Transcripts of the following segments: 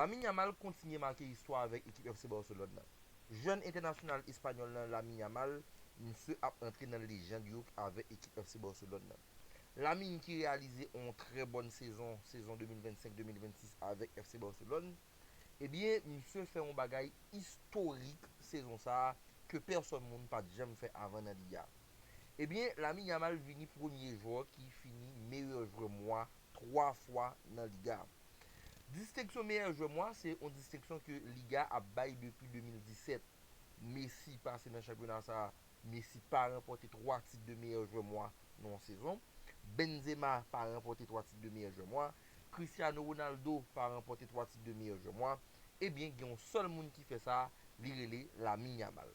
Lamine Yamal kontinye make istwa avèk ekip FC Barcelone nan. Jèn entènasyonal espanyòl lan Lamine Yamal, misye ap antre nan lejand yo avèk ekip FC Barcelone nan. Lamine ki reyalize on trè bòn sezon sezon 2025, 2026 avèk FC Barcelone, ebyen misye fè on bagay istorik sezon sa ke pèsòn moun pat janm fè avan nan Liga. Ebyen Lamine Yamal vini premye jwè ki fini meyè jwè mwa 3 fwa nan liga a. Distenksyon meyè jwè mwa se yon distenksyon ke liga a ap bay depi 2017. Messi pase nan chanpyona sa a, Messi pa ranpòte 3 tit de meyè jwè mwa nan yon sezon. Benzema pa ranpòte 3 tit de meyè jwè mwa. Cristiano Ronaldo pa ranpòte 3 tit de meyè jwè mwa. Ebyen gen yon sèl moun ki fè sa, li rele Lamine Yamal.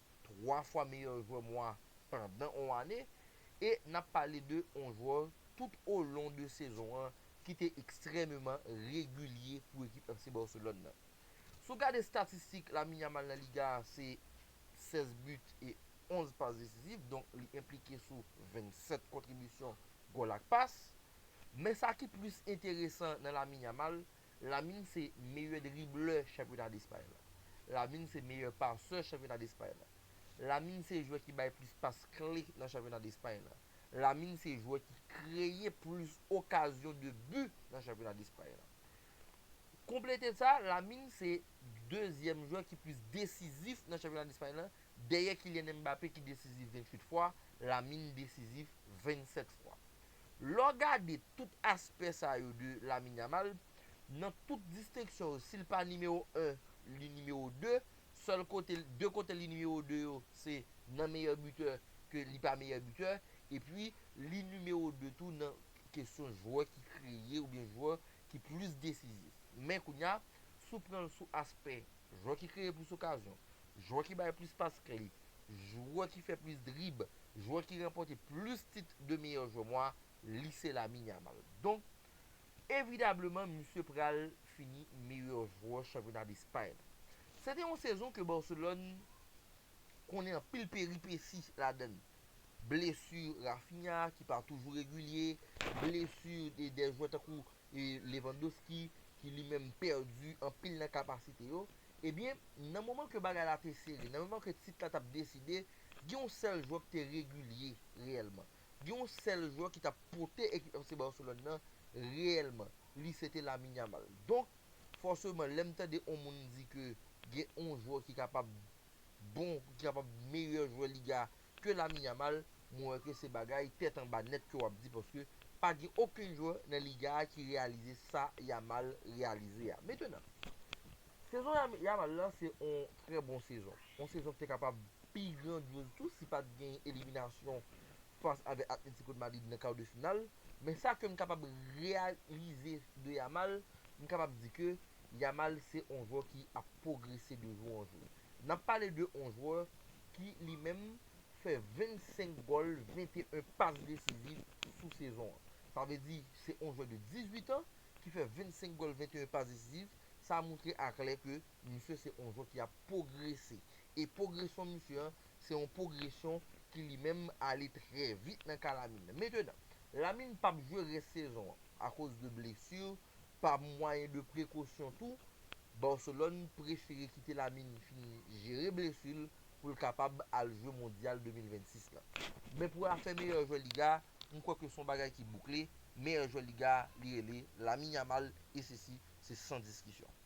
3 fwa meyè jwè mwa pandan on ane e n ap pale de on jwè tout o lon de sezon an ki te ekstrèmeman regilye pou ekip FC Barcelone nan. Si w gade statistik Lamine Yamal nan Liga a se 16 but e 11 pas desizif donk li enplike sou 27 kontribisyon gòl ak pas. Men sa ki plis enteresan nan Lamine Yamal Lamine se meyè driblè chanpyona Despay la. Lamine se meyè pasè chanpyona Despay la. Lamine se jwè ki bay plis pas kle nan chanpyona Despay la. Lamine se jwè ki kreye plis okazyon de bi nan chanpyona Despay la. Konplete sa, Lamine se dezyèm jwè ki plis desizif nan chanpyona Despay la, dèyè Kylian Mbappé ki desizif 28 fwa, Lamine desizif 27 fwa. Lè w gade tout aspè sa yo de Lamine Yamal, nan tout distenksyon yo, si l pa nimewo 1, li nimewo 2, sèl kote, 2 kote li nimewo 2 yo, se nan meyè bitè ke li pa meyè bitè, epi li nimewo 2 tou nan kesyon jwè ki kreye oubyen jwè ki plis desizif. Men kounye a, si w pran l sou aspè. Jwè ki kreye plis okazyon, jwè ki bay plis pas kle, jwè ki fè plis drib, jwè ki ranpòte plis tit de meyè jwè mwa, li se Lamine Yamal. Donk, evidableman misye pral fini meyè jwè chanpyona Despay la. Se te yon sezon ke Barcelone konnen anpil peripesi ladann. Blesu Raphinha ki pa toujou regilye, blesu de jwè tankou e Lewandowski ki li menm pèdi anpil nan kapasite yo, ebyen nan moman ke bagay la te sere, nan moman ke tit la t ap deside, gen yon sèl jwè ki te regilye reyèlman, gen yon sèl jwè ki t ap pote ekip FC Barcelone nan reyèlman, li se te Lamine Yamal. Donk, fòseman lè m tande yon moun di ke gen yon jwè ki kapab bon, ki kapab meyè jwè Liga ke Lamine Yamal mwen wè ke se bagay tèt anba nèt ke wap di paske pa gen okenn jwè nan liga a ki reyalize sa Yamal reyalize a. Metenan, sezon Yamal la se on trè bon sezon. On sezon ki te kapab pi grandyoz tou si pat gen eliminasyon fas avèk Atlético de Madrid nan kar de final. Men sa ke m kapab reyalize de Yamal, m kapab di ke Yamal se on jwè ki ap pwogrese de jou an jou. N ap pale de on jwè ki li menm fè 25 gòl, 21 pas desiziv sou sezon an. Sa vle di se on jwè de 18 an ki fè 25 gòl, 21 pas desiziv. Sa moutre a klè ke misye se on jwè ki ap pwogrese. E pwogresyon misye an, se on pwogresyon ki li menm ale trè vit nan ka Lamine. Metenan, Lamine p ap jwe rès sezon an akoz de blesur Pa mwayen de prekosyon tou, Barcelone prefere kite Lamine fin jere blesu l pou l kapab al jwe Mondyal 2026 la. Men pou afè meyè jwè liga, m kwè ke s on bagay ki boukle, meyè jwè liga li rele Lamine Yamal e sesi se san diskisyon.